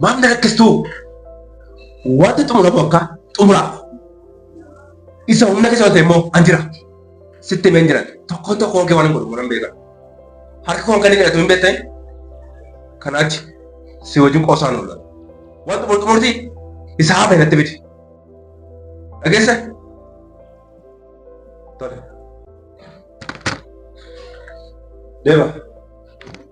Maaf na rakkistuu? Wanti xumuramu akka xumuraaf. Isa humna keessa ta'e immoo an jira. Sitti himeen jiran tokkoon tokkoon kee waan hin godhu waan hin beekan. Harka koon kan inni kadhatu hin beektan kan achi si wajjin qoosaan oola. Waan xumur xumurti isa hafe natti fidi. Dhageessa? Tole. Deema.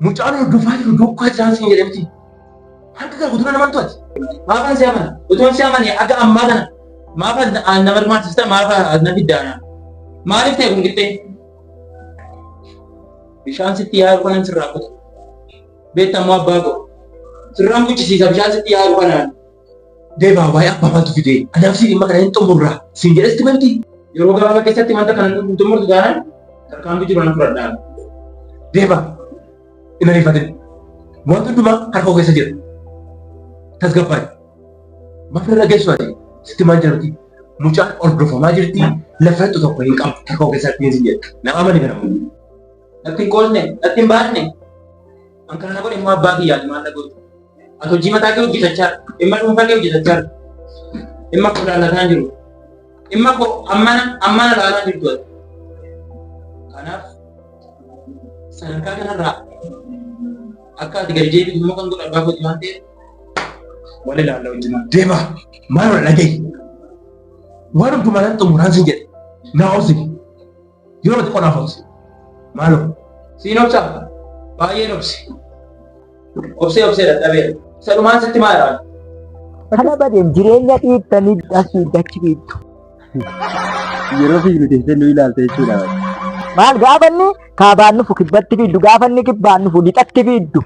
Mucaan hordofaa jiru duukaa jiraan siin jedhe miti. Harka kee guddina naman to'ate. Maafan si amana. Utuun si amane akka ammaa kana. Maafa na barmaachista maafa na fiddaana. Maaliif ta'e kun qixxee? Bishaan sitti yaa'u kanan sirraa kutu. Beektaa immoo abbaa koo. Sirraan buchisiisa bishaan sitti yaa'u kanaan. Deebaa waa'ee abbaa maaltu fidee anaaf si dhimma kana hin xumurraa siin jedhes timanti. Yeroo gabaabaa keessatti wanta kana hin xumurtu taanaan tarkaanfii jiru nan fudhadhaa. Deebaa hin ariifatin wanta hundumaa harka koo keessa jira. Tasgabbaa'i. Maaf irra geessu ati sitti maal jirti? Mucaan hordofamaa jirti lafa hidhu tokko hin qabu harka koo keessatti hin jedhu. Nama amani kana kun. Natti hin qoosne natti hin baasne. An kana na godhe immoo abbaa kiyyaati maal na godhu. Ati hojii mataa kee hojjetachaa dhimma dhuunfaa kee hojjetachaa dhimma koo ilaalataa jiru. Dhimma koo ammana ammana ilaalaa jirtu ati. Kanaaf sadarkaa kanarraa akka ati gadi deebitu immoo kan godhu abbaa kooti waan ta'eef wal ilaalla wajjin deema maal wal dhagahi waan hundumaa nan xumuraan sin jedhe naa obsi Yeroo tokko naaf obsi. Maaloo. Siin obsa. Baay'een obsi. Obsee obsee dadhabeera. Isa dhumaan sitti maa irraa? Kana badeen jireenya dhiittanii asii dachi biittu. Yeroo fiignu teessee nu ilaalta jechuudha. Maal gaafanni kaabaan nufu kibbatti fiiddu gaafanni kibbaan nufu lixatti fiiddu.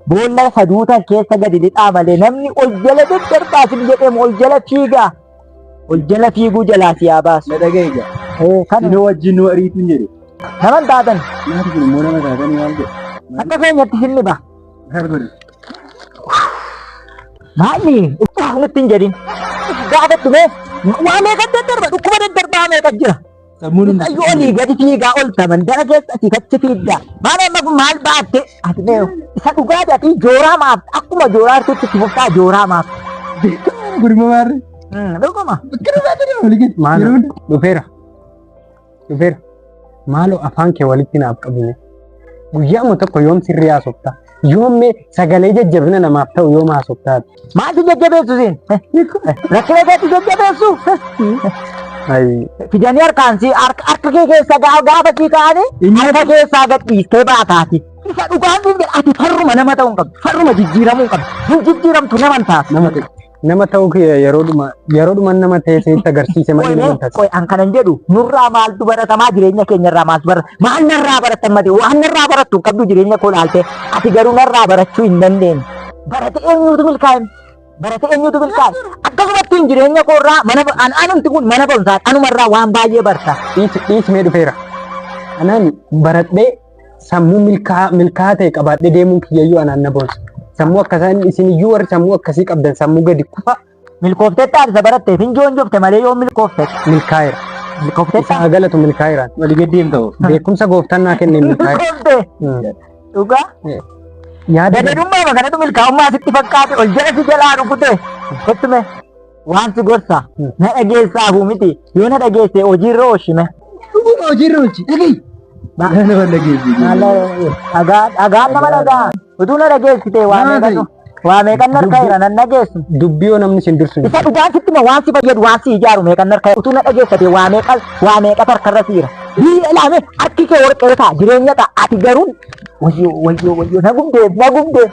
Boolla saduutan keessa gadi lixaa malee namni ol jala daddarbaa sin jedheemu ol jala fiigaa. Ol jala fiiguu jalaa si haa baasu. Na dhaga'i gaa. Eh, Kana Inni wajjin nu ariitu hin jedhe. naman taatan Maati kun immoo nama taatanii maal godhe? akka keenyatti sinni ba. Maal godhe? Maalli nutti hin jedhin. Gaafattu mee waa meeqa daddarbaa dhukkuba daddarbaa meeqa jira. Sammuu nama Mucayyoo olii gadi fiigaa olta mandara keessatti kachi fiidda. Maal amma kun maal baatte? Ati mee isa dhugaa ati jooraa maaf akkuma jooraa artutti itti fuftaa jooraa maaf. gurma maarre. Hmm, Dhuguma. Maalo dhufeera. Dhufeera. Maaloo afaan kee walitti naaf qabine. Guyyaama tokko yoom sirrii haasofta? Yoommee sagalee jajjabina namaaf ta'u yoom haasoftaati. Maaltu jajjabeessu siin? Rakkina keetti jajjabeessu? Fidanii harkaan si harka kee keessa gaafa sii kaa'anii harka keessaa gadhiistee baataati. Isa dhugaan siin jedha ati farruma nama ta'uu hin qabdu. Farruma jijjiiramuu hin qabdu. Hin jijjiiramtu nama hin taatu. Nama ta'uu kiyya yeroodhuma yeroodhuma nama ta'e sitti agarsiise malee nama taate. Qoy an kanan jedhu nurraa maaltu baratamaa jireenya keenya irraa maaltu barata maal narraa baratan mati waan narraa barattu hin qabdu jireenya koo laaltee ati garuu narraa barachuu hin dandeenye. Barate eenyuutu milkaa'in? Barate eenyuutu milkaa'in? Akkasumatti hin jireenya koo irraa mana an anumti kun mana barumsaa anumarraa waan baay'ee barta. Dhiis dhiis mee dhufeera. Anaan baradhee sammuu milkaa- milkaa'aa ta'e qabaadhee deemuun kiyyayyuu anaan na boonsa. Sammuu akkasaa inni isin iyyuu warri sammuu akkasii qabdan sammuu gadi kufa Milkoofteetta adda baratteef hin joonjofte malee yoo milkoofteef. milkaa'eera. Milkoofteetta. Isaa galatu milkaa'eera. Walii gad deemta hoo. Beekumsa gooftaan naa kenne milkaa'eera. Milkoofte. Mm. Dhugaa. Yaada Gadadummaa kanatu milkaa'ummaa sitti fakkaate ol jala si jalaa rukute. Kottume. Waanti gorsa na dhageessaafu miti yoo na dhageesse hojiirra oolchime. Dhuguma hojiirra oolchi dhagahi. Baay'ee nama dhageessi. Dhagaa dhagaa nama dhagaa utuu na dhageessite waa Maal meeqatu ta'e? waa meeqan narka jira nan dhageessu. Dubbii yoo namni sin dursu. Isa dhugaan sitti ma waan si fayyadu waan si ijaaru meeqan narka utuu na dhageessite waa meeqa waa meeqa tarkarra siira. Biyya ilaame harki kee warqee ta'a jireenya ta'a ati garuu Wayyoo wayyoo wayyoo na gubdeef na gubdeef.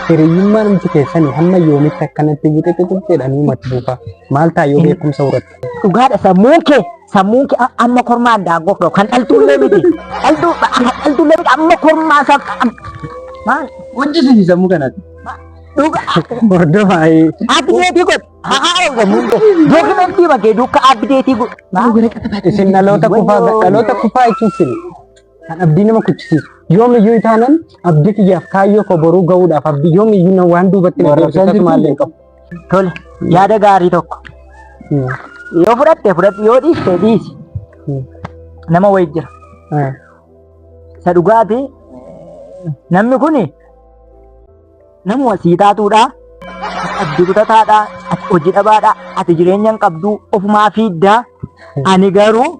Hiriyyummaan miti keessanii hamma yoomitti akkanatti buxixixix jedhanii mati buufaa. Maal ta'a yoo beekumsa horatte. Dhugaadha sammuun kee sammuun kee amma kormaa addaa gofdoo kan dhaltuullee miti. Dhaltuu dhaltuullee miti amma kormaa isaa maal Hojjisiisi sammuu kanatti. dhugaa. Hordofaa. Abdeetii godhe. Hahaara sammuun kee dookimentii bakee duuka abdeetii godhe. Isin dhaloota kufaa dhaloota kufaa jechuun sini. Kan abdii nama kuchisiisu. Yoomiyyuu itaanan abdii kiyyaaf kaayyoo koo boruu ga'uudhaaf abdii yoomiyyuu na waan duubatti na Warra deebisu isaan akkasuma illee hin qabu. Tole, yaada gaarii tokko. Hmm. Yoo fudhatte fudhadhu, yoo dhiiste dhiisi. Hmm. Nama wayii jira. Ah. Isa dhugaati namni kun nama sii taatuudha. Abdii kutataadha. Ati hojii dhabaadha. Ati jireenya hin qabdu. Ofumaa fiidda. Ani garuu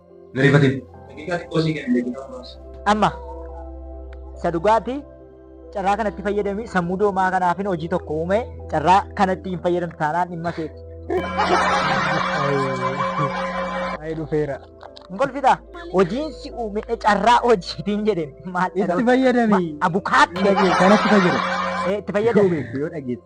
Narifatin. Daqiiqaa xiqqoo sii kenna daqiiqaa muraasa. Amma isa dhugaati carraa kanatti fayyadamii sammuu doomaa kanaafin hojii tokko uume carraa kanatti hin fayyadamtu taanaan dhimma keeti. Ayi dhufeera. Hin kolfitaa hojiin si uume carraa hojiitiin jedheen maal Itti fayyadami. Abukaattee Kanatti fayyadami. itti fayyadame. Yoo dhageesse.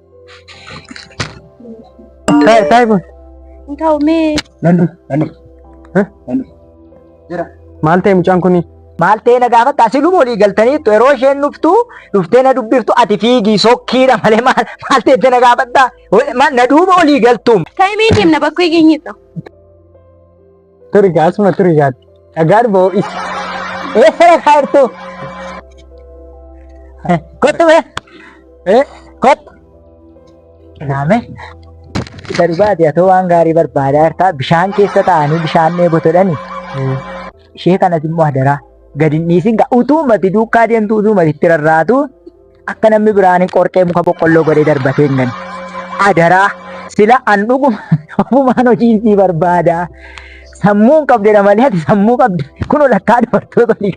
Taa'e taa'e boon. Hin taa'u mee. Nannu nannu. Nannu. Jira. Maal ta'e mucaan kuni? Maal ta'e na gaafatta asii luma olii galtaniittu yeroo isheen dhuftu dhuftee na dubbiftu ati fiigii sokkiidha malee maal maal ta'e na gaafatta na duuba olii galtuum. Ta'e mee deemna bakkee geenyeessa. Turi gaa asuma turi gaa. Dhagaan boo is. Eessara kaartu. Kottu bee. Eh kottu. Naame. Isa dhugaati atoo waan gaarii barbaadaa jirtaa bishaan keessa taa'anii bishaan dheebotodhani. Ishee kanas immoo hadaraa. Gadi hin dhiisin gaa utuu mati duukaa deemtu utuu mati itti rarraatu akka namni biraan qorqee muka boqqolloo godhee darbatee hin gane. Adaraa sila an dhuguma ofumaan hojii sii barbaada. Sammuu hin qabdedha malee ati sammuu qabda. Kun lakkaa dubartoota olii.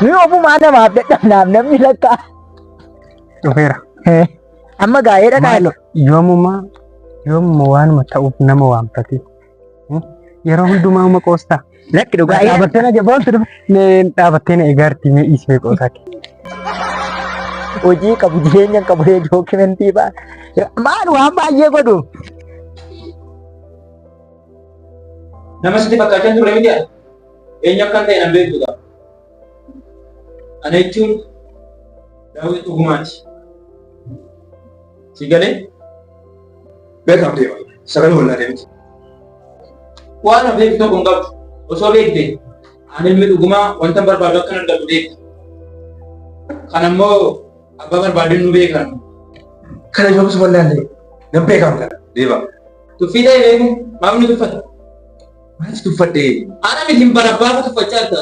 Nuyi ofumaa namaaf dadhabnaaf namni lakkaa. Dhufeera. Eh, Amma gaa'eedha Maaloo gaa'eedha. yoomuma yoomuma waanuma ta'uuf nama waamtati. Yeroo hundumaa uma qoosta. Lakki dhugaa eegaa. Dhaabattee na jabaatu dhaabattee na eegaarti mee dhiisee qoosaa kee. Hojii qabu jireenya hin qabu dookimentii ba'a. Maal waan baay'ee godhu. Nama sitti fakkaachaa turre miti ati. Eenyu akka ta'e nan beektu ta'a. Ana jechuun daawwiti dhugumaati. Si galee? Beekaaf deema. Sagalee wallaa deemti. Waan hafeef tokko hin qabdu. Osoo beekte ani ilmi dhugumaa wanta barbaadu akka argatu beekta. Kan ammoo abbaa barbaadeen nu beekan. Kana yoomsu wallaallee nan beekaaf kana deema. Tuffii ta'e beeku maaf nu tuffata? Maalis tuffadhee. Ana miti hin barabbaafa tuffachaa jirta.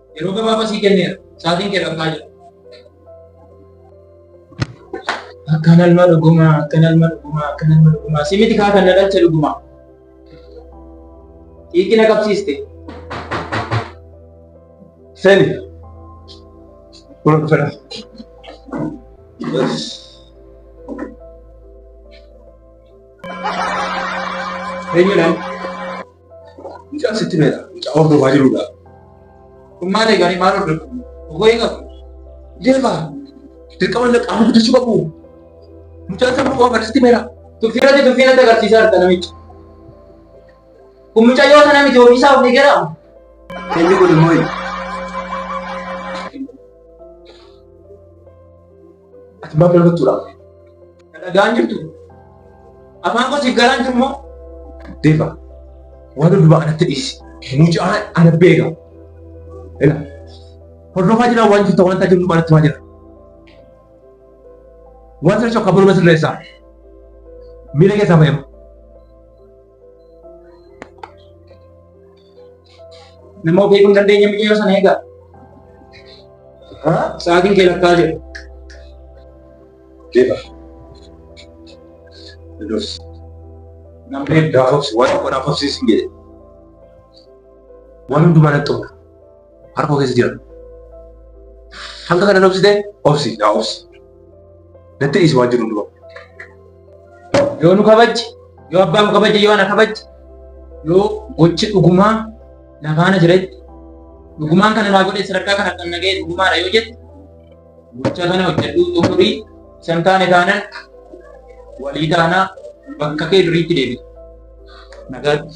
Yeroo gabaabaa sii kenneera. Sa'aatiin kee dhabnaa jira. Akkan alma dhugumaa, akkan alma dhugumaa, akkan alma dhugumaa. Si miti kaa kan na dhalche dhugumaa. Xiiqii na qabsiiste. Seni. Buna dhufeera. Eenyuudhaan? Mucaan sitti meera. Mucaa hordofaa jirudha. Kun maal eeganii maal hordofu? Ogoo eegamu. Deema. Dirqama illee qaama guddisuu qabu. Mucaan sammuu qofa barsiisti meera. Tuffiirratti tuffiirratti agarsiisaa jirta namicha. Kun mucayyoo sana miti ofiisaa of eegeera. Inni kun immoo Ati maaf lafa tuuraaf? Dhagaan jirtu. Afaan koo siif galaan jirmoo? Deefa. Waan hundumaa anatti dhiisi. Mucaan ana beeka. Ila. Hordofaa jira waan jirtu waan taate hundumaa anatti maa jira. Waan sana shokka buluma sirreessaa. Miila keessaa fayyama. Nama ofii kun dandeenya miidhagina sana eegaa. Sa'aatiin kee lakkaa jira. Deeba. Dudus. Namni gaafa obsi waan tokko naaf obsiisin jedhe. Waan hundumaa nan xumura. Harka koo keessa jira. Hanga kana obsitee obsi yaa obsi. Natti dhiisi waan jiru dura. Yoo nu kabajji, yoo abbaan nu kabajji, yoo ana kabajji, yoo gochi dhugumaa na faana jiretti, dhugumaan kana naa godhee sadarkaa kana kan nagahee dhugumaadha yoo jette, gocha kana hojjedhuu xumurii isan taane taanan walii taanaa bakka kee duriitti deebitu. Nagaatti.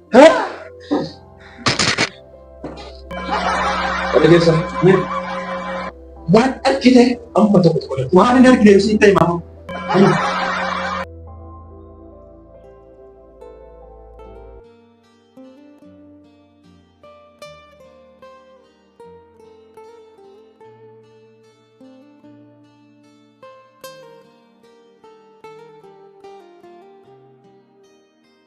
Dhageessa. Waan argite amma tokko tokko dha. Waan hin argine ibsiin ta'e maama.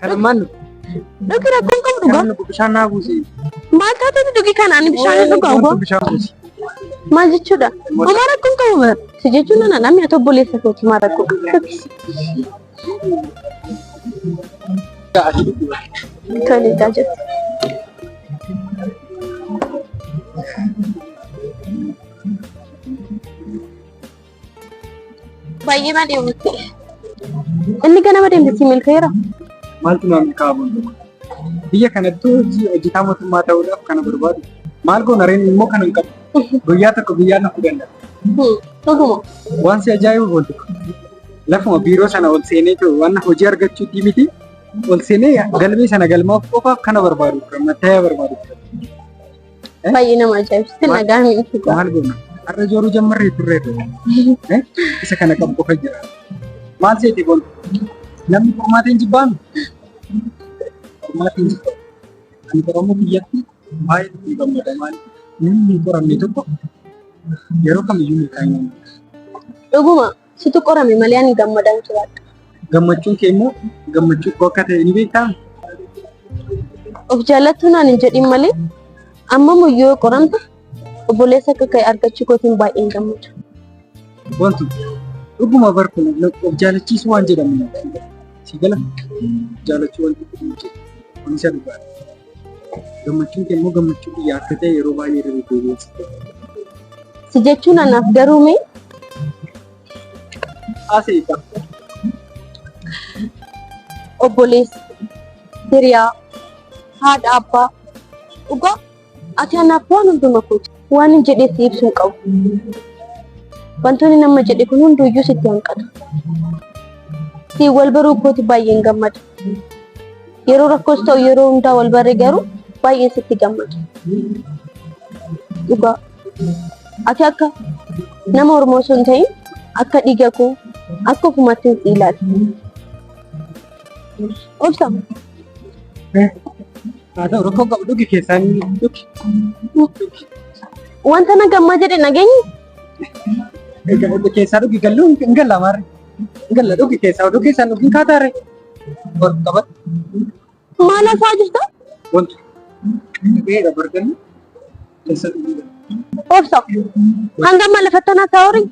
Kanummaan nu. Dhugi rakkoon qabu dhugaa. Kanummaan bishaan naa buusi. Maal taatee dhugi kana ani bishaan hin dhugaa ugaa. Bishaan buusi. Maal jechuudha? Homaa rakkoon qabu bara. Si jechuun nana namni ati obboleessa kooti maal rakkoo qabu. Tole egaa jirti. Baay'ee na deemte. Inni ganama deemte si milkeera. Maaltu naa milkaa'aa boontu? Biyya kanattuu hojii hojjetaa mootummaa ta'uudhaaf kana barbaadu. Maal goona reen immoo kana hin qabu. Guyyaa tokko biyyaa nafuu danda'a. Dhuguma. Waan si ajaa'ibu boontu. Lafuma biiroo sana ol seenee jiru waan hojii argachuutii miti. Ol seenee galmee sana galmaaf qofaaf kana barbaadu. Mattaayaa barbaadu. Baay'ee nama ajaa'ibsiisa nagaa miidhaguu qaba. Maal goona? Har'a jooruu jammarree turree ture. Isa kana qabu qofa jira. Maal seete kun? Namni qormaata hin jibbaanu? Qormaata hin jibbaanu. Ani Oromoo biyyatti baay'ee itti gammada maali? Namni hin qoramne tokko yeroo kamiyyuu milkaa'ina hin qabu. Dhuguma. Situ qorame malee ani gammadaan jiraadha. Gammachuun kee immoo gammachuu koo akka ta'e ni beektaa? Of jaallattuu naan hin jedhin malee amma muyyoo qoramta obboleessa akka ka'e argachuu kootiin baay'een gammada. Wantu dhuguma barku of jaalachiisuu waan jedhamu si gala jaalachuu wanti kun jedhu. Kunis dhugaadha. Gammachuun kee immoo gammachuu biyya akka ta'e yeroo baay'ee irra deddeebi'ee si Si jechuun anaaf garuu mee haasa'e qaba. obboleessa, hiriyaa, haadha, abbaa. Dhugaa ati anaaf waan hunduma kooti. Waan hin jedhe itti ibsu hin qabu. Wantoonni nama jedhe kun hunduyyuu sitti hanqatu. Si wal baruu kooti baay'een gammada. Yeroo rakkoos ta'u yeroo hundaa wal barre garuu baay'een sitti gammada. Dhugaa. Ati akka nama Oromoo osoo hin ta'in akka dhiiga koo akka ofumaatti hin si ilaali. Obsa. Haa ta'u rakkoo qabu dhugi keessaan dhugi. Wanta na gammaa jedhe nageenyi. Keessaa dhugi galluu hin galla maarre. Hin galla dhugi keessaa oduu keessaan dhugi hin kaataare. Bor qabat Maal hasaa jirta? wantu. Beera bargalli keessa dhugi. Obsa. Hanga amma lafattanaa taa'uuri.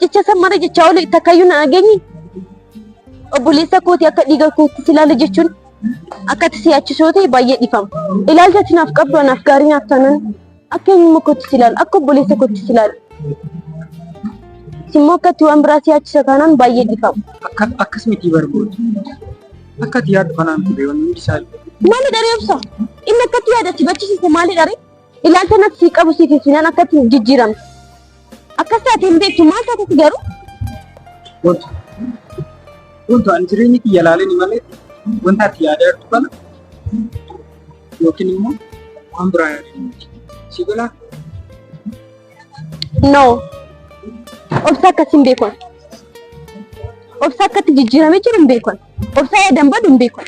Jecha san mara jechaa oole takkayyuu na dhageenye obboleessa kooti akka dhiiga kootti si ilaala jechuun akka itti si'aachisoo ta'e baay'ee dhifama. Ilaalcha ati naaf qabdu anaaf gaarii naaf taanaan akka eenyumma kootti si ilaala akka obboleessa kootti si ilaala. Simmoo akka itti waan biraa si'aachisa taanaan baay'ee dhifama. Akka akkas miti barbaadu. Akka ati yaaddu kanaan ture wanni hundi isaa. Maali dharee obsa? Inni akka itti yaada si bachisiise maali dharee? Ilaalcha natti sii qabu siif ibsinaan akkatti jijjiiramte. Akkas taate hin beektu maal taateti garuu? Wantu. Wantu ani jireenya kiyya ilaaleen malee wanta ati yaadaa jirtu kana yookiin immoo waan biraa yaadeen miti. Si galaa? No. Obsa akkas hin beekan. Obsa akkatti jijjiiramee jiru hin beekan. Obsa yaadan badu hin beekan.